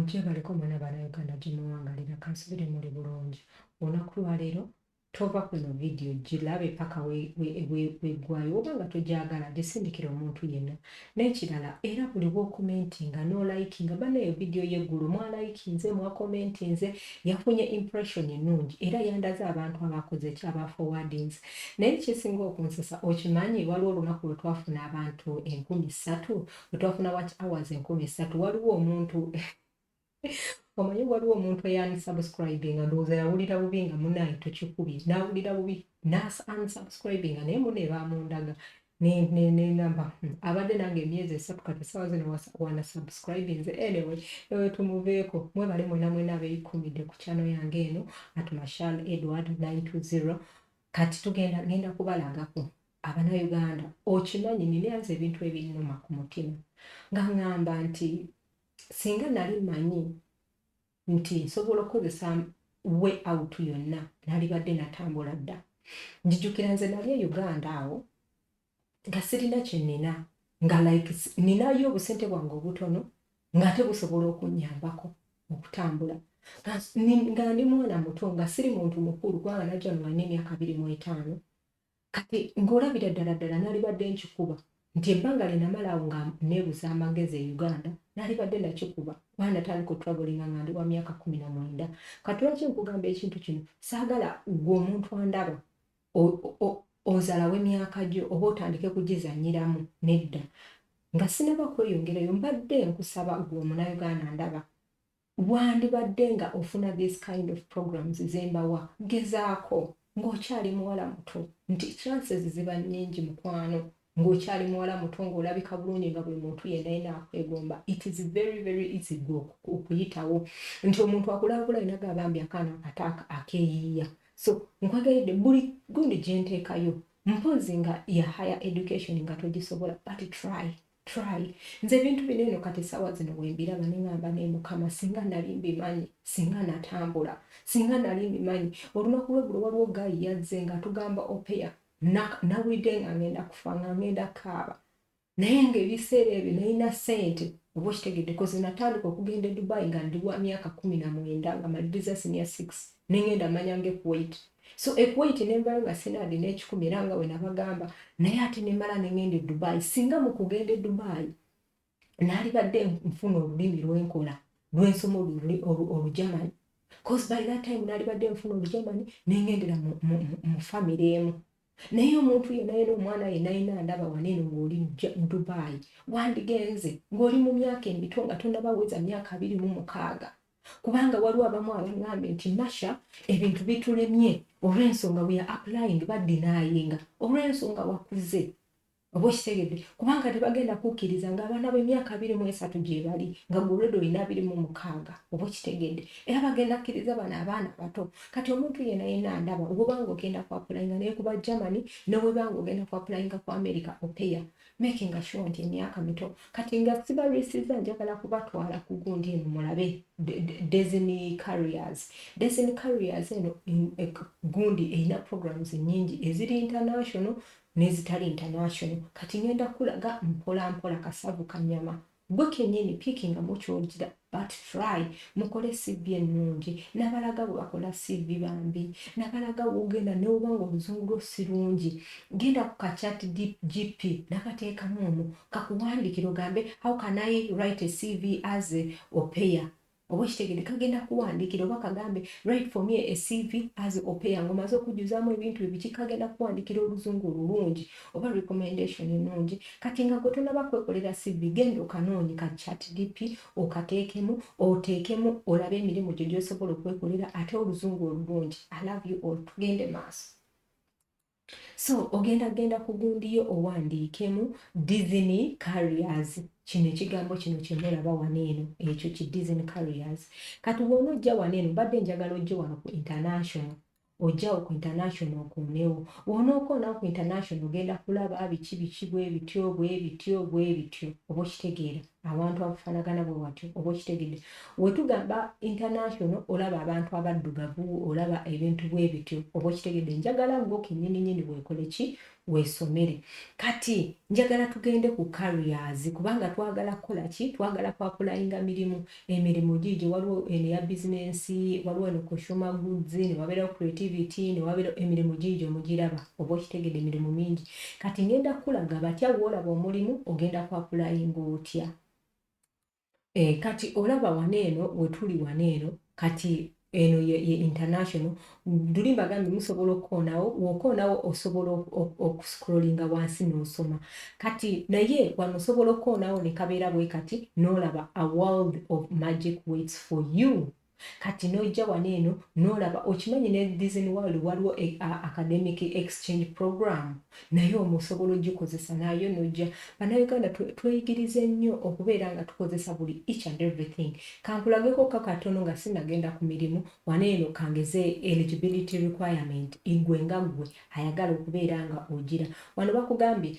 mugyebaleko mwana bana uganda gyemuwangalira kansubire muli bulungi olunaku lwaleero tova kuno vidiyo gilabe paka wegwayo oba nga togyagala gisindikira omuntu yenna Nekirala era buli wokomentinga no likinga bana eyo video ye gulu mwa likinze mwa komentinze yafunye impression enungi era yandaze abantu abakoze ki aba forwardings naye ekyesinga okunsesa okimanyi waliwo olunaku lwetwafuna abantu enkumi satu lwetwafuna watch hours enkumi satu waliwo omuntu omanyi waliwo omuntu eyansubscribinga ndowooza yawulira bubi nga munaye tukikubye nawulira bubi nasunsubscribinga naye mune bamundaga nenamba hmm, abadde nange emyezi esatu kati esawa zino wana subscribinze anyway ewe tumuveeko mwebale mwena mwena abeyikumidde ku kyano yange eno at mashal edward 920 kati tugenda genda kubalagako abana uganda okimanyi ninayanze ebintu ebinuma ku mutima nga ngamba nti singa nali manyi nti nsobola okukozesa way out yonna nalibadde natambula dda njijukira nze nali e uganda awo nga sirina kyenina nga like ninayo obusente bwange obutono ngaate busobola okunyambako okutambula nga ndi mwana muto nga siri muntu mukulu kubanga najja nolina emyaka biri mu etaano Kati ng'olabira ddala ddala nalibadde nkikuba nti ebbanga lye namala awo nga neebuza amagezi e Uganda nalibadde nakikuba kuba natandika otravellinga nga ndi wa myaka kkumi na mwenda. Kati lwaki nkugamba ekintu kino? Saagala ggwe omuntu andaba ozalawo emyaka gyo oba otandike kugizannyiramu nedda nga sinaba kweyongerayo mbadde nkusaba ggwe omunauganda ndaba Wandibadde nga ofuna these kind of programs zembawa gezaako nga okyali muwala muto nti chances ziba nyingi mukwano nga okyali muwala muto nga olabika bulungi nga buli muntu yena yena akwegomba it is very very easy go okuyitawo nti omuntu akulabula yena gaba bambi akaana akataaka akeyiiya so nkwagaridde buli gundi gyenteekayo mpozi nga ya higher education nga togisobola but try try nze ebintu bino eno kati esawa zino wembiraba nengamba naye mukama singa nali mbimanyi singa natambula singa nali mbimanyi olunaku lwegulo waliwo gayi yazze nga atugamba opeya nawulidde nga ngenda kufa nga ngenda kaaba naye nga ebiseera ebyo nalina sente oba okitegedde kozi natandika okugenda e dubai nga ndi wa myaka kumi na mwenda nga maliriza sinia six nengenda manya ngekuwait so e Kuwait nembayo nga sina adi n'ekikumi era nga bwe nabagamba naye ate nemala ne ngenda e Dubai singa mu kugenda e Dubai naalibadde nfuna olulimi lwenkola lwensoma olujamanyi cause by that time naalibadde nfuna olujamanyi nengendera mu famire emu naye omuntu yena yena omwana yena yena ndaba waneno ng'oli Dubai wandigenze ng'oli mu myaka emito nga tonabaweza myaka abiri mu mukaaga kubanga waliwo abamu abangambye nti nasha ebintu bitulemye olwensonga we are applying badinayinga olwensonga wakuze oba okitegedde kubanga tebagenda kukkiriza nga abaana b'emyaka abiri mu esatu gyebali nga gulwede olina abiri mu mukaaga oba okitegedde era bagenda kkiriza bano abaana abato kati omuntu yena yena ndaba wobanga ogenda ku apulayinga naye kuba germany newebanga ogenda ku apulayinga ku america opeya making sure nti emyaka mito kati nga sibalwisiza njagala kubatwala ku gundi eno mulabe desiny carriers desiny carriers eno e, gundi erina programs nyingi eziri international nezitali international kati ngenda kulaga mpola mpola kasavu kanyama Gwe kenyini picking nga mukyojira but try mukole CV ennungi nabalaga bwebakola CV bambi nabalaga wogenda newoba nga oluzungu lwo sirungi genda ku ka chat GP nakateekamu omwo kakuwandikire ogambe how can I write a CV as a opeya oba okitegede kagenda kuwandiikira oba kagambe right for me a cv as opeya nga omaze okujjuzaamu ebintu ebiki kagenda kuwandiikira oluzungu olulungi oba recommendation ennungi kati nga gwe tonaba kwekolera cv genda okanoonyi ka chat dp okateekemu oteekemu olabe emirimu gye gyosobola okwekolera ate oluzungu olulungi i love you all tugende maaso So ogenda genda ku gundi yo owandiikemu Disney Carriers. Kino ekigambo kino kye mulaba wano eno ekyo ki Disney Carriers. Kati wona ojja wano eno mbadde njagala ojje wano ku international ojjawo ku international okoonewo wonookoonawo ku international ogenda kulaba biki biki bwe bityo bwe bityo bwe bityo oba okitegeera abantu abafanagana bwe watyo oba okitegedde wetugamba international olaba abantu abaddugavu olaba ebintu bwe bityo oba okitegedde njagala gwo kenyini nyini wekole ki wesomere kati njagala tugende ku carriers kubanga twagala kukola ki twagala kwapulayinga mirimu emirimu giigyo waliwo eno ya bizinensi waliwo eno consumer goods ne wabeerawo creativity ne wabeerawo emirimu giigyo mugiraba Oba okitegede mirimu mingi kati ngenda kukulaga batya wolaba omulimu ogenda kwa pulayinga otya e, kati olaba wana eno wetuli wana eno kati eno ye, ye international duli mbagambye musobola okukoonawo wokoonawo osobola okuscrollinga wansi nosoma kati naye wano osobola okukoonawo nekabeera bwe kati nolaba a world of magic waits for you kati nojja wano eno nolaba okimanyi ne Disney World waliwo e, a, academic exchange program naye omusobola ogikozesa nayo nojja bannayuganda tweyigirize nnyo okubeera nga tukozesa buli each and everything kankulageko ka katono nga sinagenda ku mirimu wano eno kangeze eligibility requirement igwe nga gwe ayagala okubeera nga ogira wano bakugambye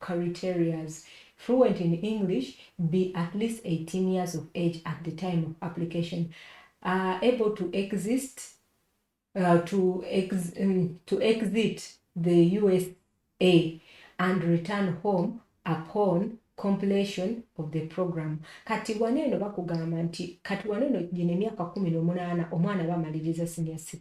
criterias, fluent in English, be at least 18 years of age at the time of application, are able to exist uh, to, ex um, to exit the USA and return home upon completion of the program kati wano eno bakugamba nti kati wano eno gino emyaka kumi nomunaana omwana bamaliriza senior 6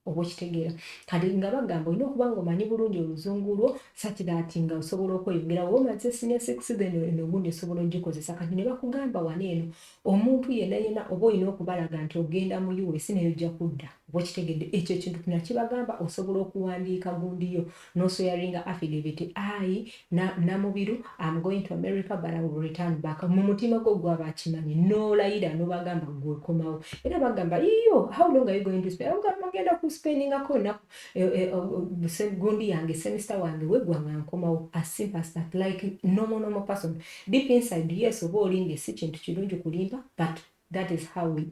oba okitegeera kati nga bagamba olina okuba nga omanyi bulungi oluzungu lwo such that nga osobola okweyongera oba omaze senior six then eno ogundi osobola ogikozesa kati ne bakugamba wano eno omuntu yena yena oba olina okubalaga nti ogenda mu us naye ojja kudda oba okitegedde ekyo ekintu nakibagamba osobola okuwandiika gundiyo No swearinga affidavit ayi na Namubiru am going to America but I will return back mu mutima gwo gwaba akimanyi nolayira nobagamba gwe okomawo era bagamba iyo how long are you going to spend ogamba ngenda ku spendinga ko na eh, eh, oh, oh, gundi yange semester wange wegwa nga nkomawo as simple as that like normal normal person deep inside yes oba olinga si kintu kirungi kulimba but that is how we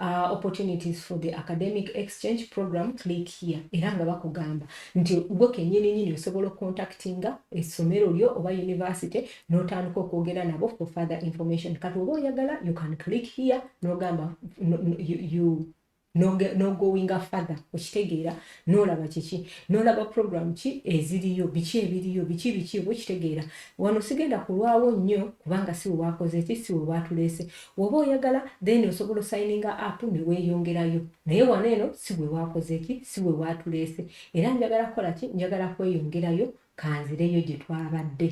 uh, opportunities for the academic exchange program click here era nga bakugamba nti gwe kenyini nyini osobola okucontactinga essomero lyo oba university notandika okwogera nabo for further information kati oba oyagala you can click here nogamba no, no, you, you nogowinga father okitegeera nolaba kiki nolaba program ki eziriyo biki ebiriyo biki biki oba okitegeera wano sigenda kulwawo nnyo kubanga si wewakoze ki si wewatuleese Woba oyagala then osobola osayininga app neweyongerayo naye wano eno siwewakozeki siwewatulese era njagala kukolaki njagala kweyongerayo kanzireyo gyetwabadde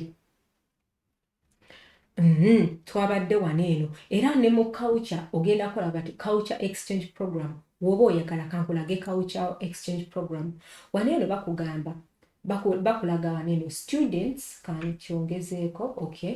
mm-hmm. twabadde wano eno era ne mu culture ogenda kola bati culture exchange program woba oyagala kankulage culture exchange program wano eno bakugamba bakulaga wano eno students kankyongezeeko okay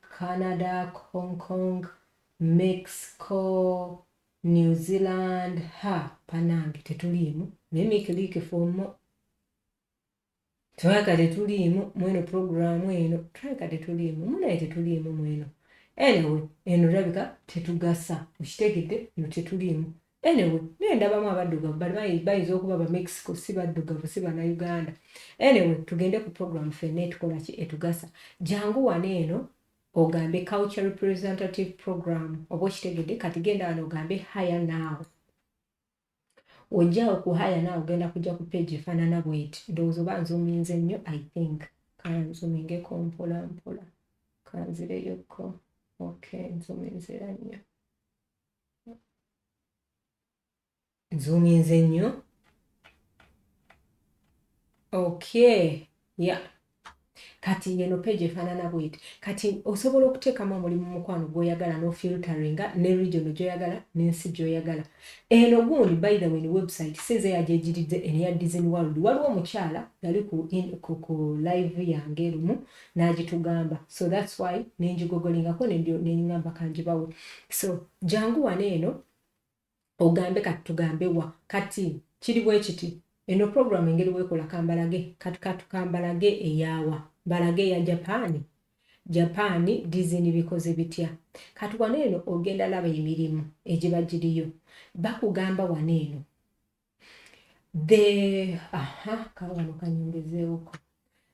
Canada, Hong Kong, Mexico, New Zealand ha banange tetuliimu naye make like for more twaka tetuliimu mweno programu eno twaka tetuliimu munaye tetuliimu mweno anyway eno olabika tetugasa okitegedde no tetuliimu Anyway, naye ndabamu abaddugavu but bayi- bayinza okuba ba Mexico si baddugavu si banauganda. Anyway, tugende ku program fenna etukola ki etugasa. Jangu wano eno ogambe culture representative program oba okitegedde kati genda wano ogambe hire now. Ojja ku hire now ogenda kujja ku page efaanana bweti ndowooza oba nzuminze nnyo I think kanzumingeko mpola mpola kanzireyokko okay nzuminzira nnyo. nzuuminze nnyo okay ya kati ngeno page efaanana bweti kati osobola okuteekamu omulimu mukwano gwoyagala nofilteringa ne region gyoyagala nensi gyoyagala eno gundi by the way ni website sinze yagyegiridde eno ya disney world waliwo omukyala yali ku, ku, ku live yange lumu n'agitugamba so that's why nenjigogolingako nengamba kanjibawe so jangu wano eno ogambe kati tugambe wa kati kiri bwekiti eno program engeri wekola kambalage kati katukambalage eyawa balage eya japaani japaani dizini bikoze bitya kati wano eno ogenda laba emirimu egiba giriyo bakugamba wano eno the aha kawano kanyongezewoko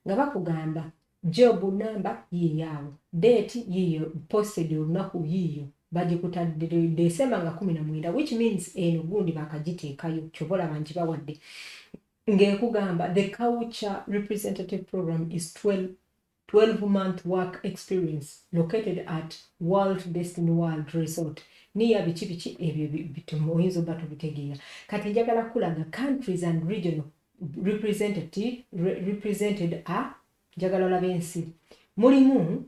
nga bakugamba job namba yiyawo date yiyo posted olunaku yiyo bagikutadde december nga kumi na mwenda which means eno gundi bakagiteekayo kyoba olaba nti bawadde ng'ekugamba the culture representative program is 12 12 month work experience located at world destiny world resort near biki biki ebyo bitumu oyinza oba tobitegeera kati njagala kukulaga countries and regional representative represented a njagala olabe ensi mulimu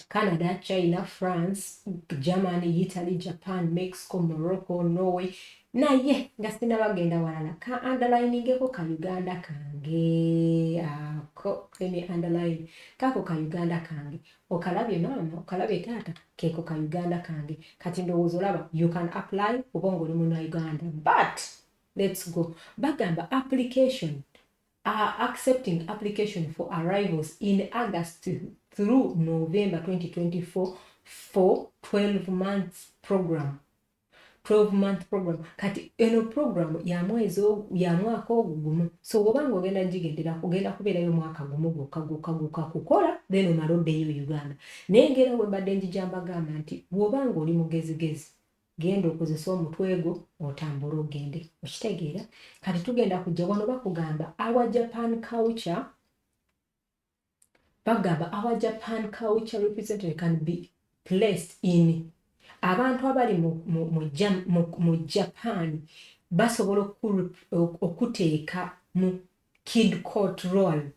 Canada, China, France, Germany, Italy, Japan, Mexico, Morocco, Norway, naye nga sinaba genda walala ka andalainingeko ka uganda kange ako emi andalaini kako ka uganda kange okalabye maama okalabye taata keko ka uganda kange kati ndowooza olaba you can apply oba nga oli muna uganda but lets go bagamba application are accepting application for arrivals in august through november 2024 for 12 months program 12 month program kati eno program ya mwezi ya mwaka ogu gumu so woba nga ogenda jigendera kugenda kubeerayo mwaka gumu gwokka gwokka gwokka kukola then omala oddeyo e uganda naye ngera webadde njija mbagamba nti woba nga oli mugezigezi genda okozesa omutwe gwo otambule ogende okitegeera kati tugenda kujja wano bakugamba awa japan culture bagamba our japan culture representative can be placed in abantu abali mu, mu, mu, mu, mu japan basobola okuteeka mu kid court role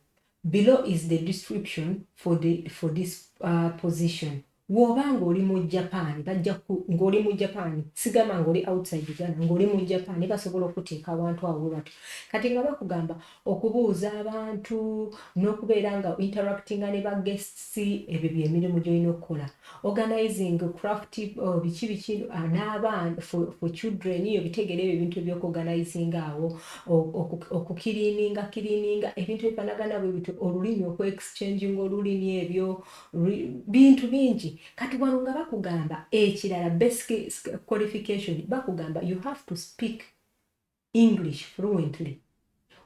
below is the description for, the, for this uh, position Woba nga oli mu Japan bajja ku nga oli mu Japan sigamba nga oli outside Uganda nga oli mu Japan ne basobola okuteeka awantu awo bwe batyo kati nga bakugamba okubuuza abantu n'okubeera nga interactinga ne ba guests ebyo bye mirimu gy'olina okukola organizing craft oh, biki biki ah, n'abaana for, for children yo bitegere ebyo ebintu ebyokuorganizinga awo okukiriininga kiriininga ebintu ebifanagana bwe bityo olulimi okuexchanginga olulimi ebyo bintu bingi kati wano nga bakugamba ekirala basic qualification bakugamba you have to speak english fluently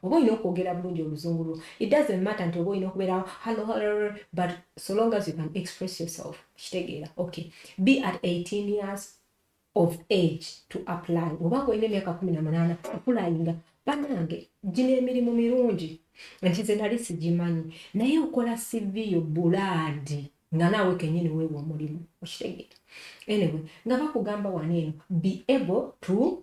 oba olina okwogera bulungi oluzungu lwo it doesn't matter nti oba olina okubeerawo hallo hallo but so long as you can express yourself kitegeera okay be at 18 years of age to apply oba nga olina emyaka kumi na munaana okulayinga banange gino emirimu mirungi nti ze nali sigimanyi naye okola siviyo bulaadi nga naawe kenyini weewa omulimu okitegeera anyway nga bakugamba wano eno be able to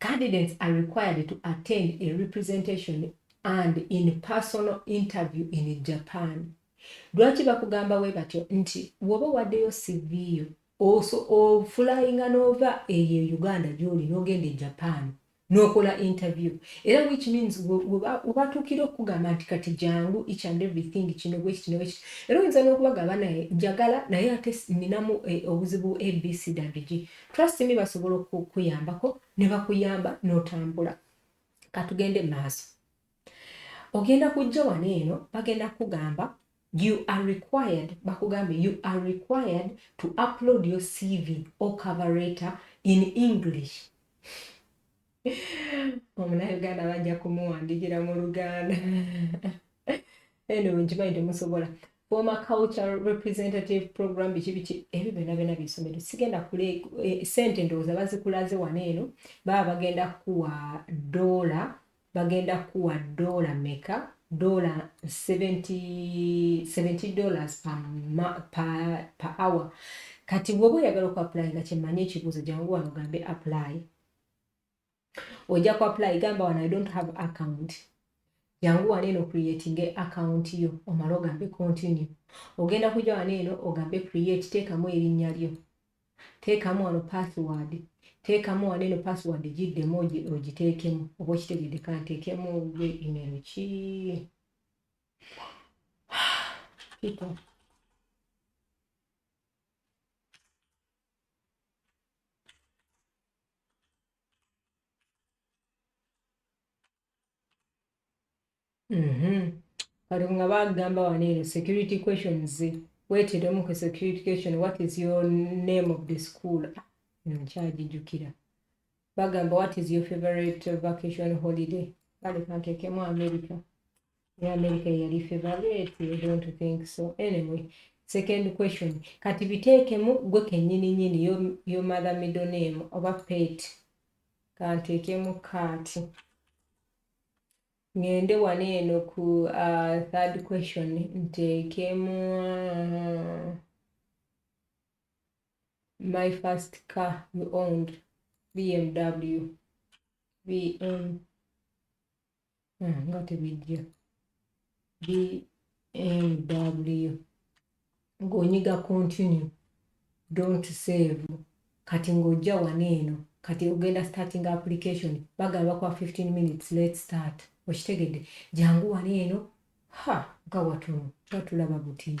Candidates are required to attend a representation and in personal interview in Japan. Lwaki bakugamba we batyo nti woba waddeyo CV yo oso ofulayinga n'ova eyo e Uganda gy'oli n'ogenda e Japan n'okola interview era which means webatuukira okukugamba nti kati jangu each and everything kino bwekiti newekiti era oyinza n'okubagamba naye njagala naye ate ninamu eh, obuzibu abc dabiji Trust me basobola okukuyambako ne bakuyamba n'otambula. Katugende mu maaso. Ogenda kujja wano eno bagenda kukugamba you are required bakugambe you are required to upload your CV or cover letter in English. omunayuganda bajja kumuwandiikira mu luganda eno wenkimanyi temusobola former cultural representative program biki biki ebyo byona byona byesomero sigenda kule eh, sente ndowooza bazikulaze wano eno baba bagenda kuwa dola bagenda kuwa dola meka dola 70 dollars per, per, per hour kati woba oyagala oku apply nga kyemanyi ekibuuzo jangu wano gambe apply ojja ku apply gamba wano i don't have account jangu wano eno creating account yo omala ogambe continue ogenda kujja wano eno ogambe create teekamu erinnya lyo teekamu wano password teekamu wano eno password giddemu ogiteekemu oba okitegedde kanteekemu gwe email ki people Mhm. kati nga bagamba wano eno security questions weteremu ku security question what is your name of the school ah, nkyagijukira bagamba what is your favorite vacation holiday kale kantekemu america ya america yali favorite i don't think so anyway second question kati biteekemu gwe kenyini nyini yo, yo mother middle name oba pet kanteekemu kaati ngende wano eno ku uh, third question nteekemu uh, my first car you owned bmw bmw ah, nga tebijja bmw ng'onyiga continue don't save kati ng'ojja wano eno kati ogenda starting application bagala bakuwa 15 minutes let start okitegedde jangu wano eno ha nga watuno twatulaba butiini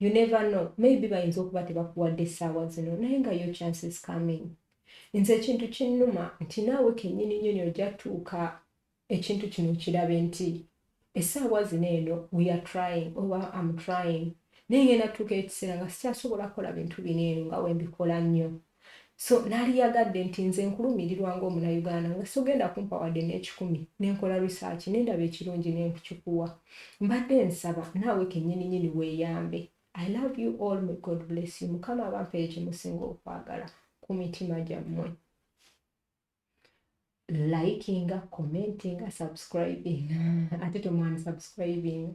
you never know maybe bayinza okuba tebakuwadde essaawa zino naye nga yo chances coming nze ekintu kinnuma nti naawe kennyini nyini ojja tuuka ekintu kino kirabe nti essaawa zino eno we are trying oba am trying naye ngenda tuuka ekiseera nga sikyasobola kukola bintu bino eno nga wembikola nnyo So nali yagadde nti nze nkulumirirwa nga omunayuganda nga sogenda kumpa wadde nekikumi nenkola research nendaba ekirungi nenkukikuwa. Mbadde nsaba naawe kenyini nyini weyambe. I love you all may God bless you mukama abampere kyemusinga okwagala kumitima gyamwe. Likinga, commentinga, subscribinga ate tomwani subscribinga.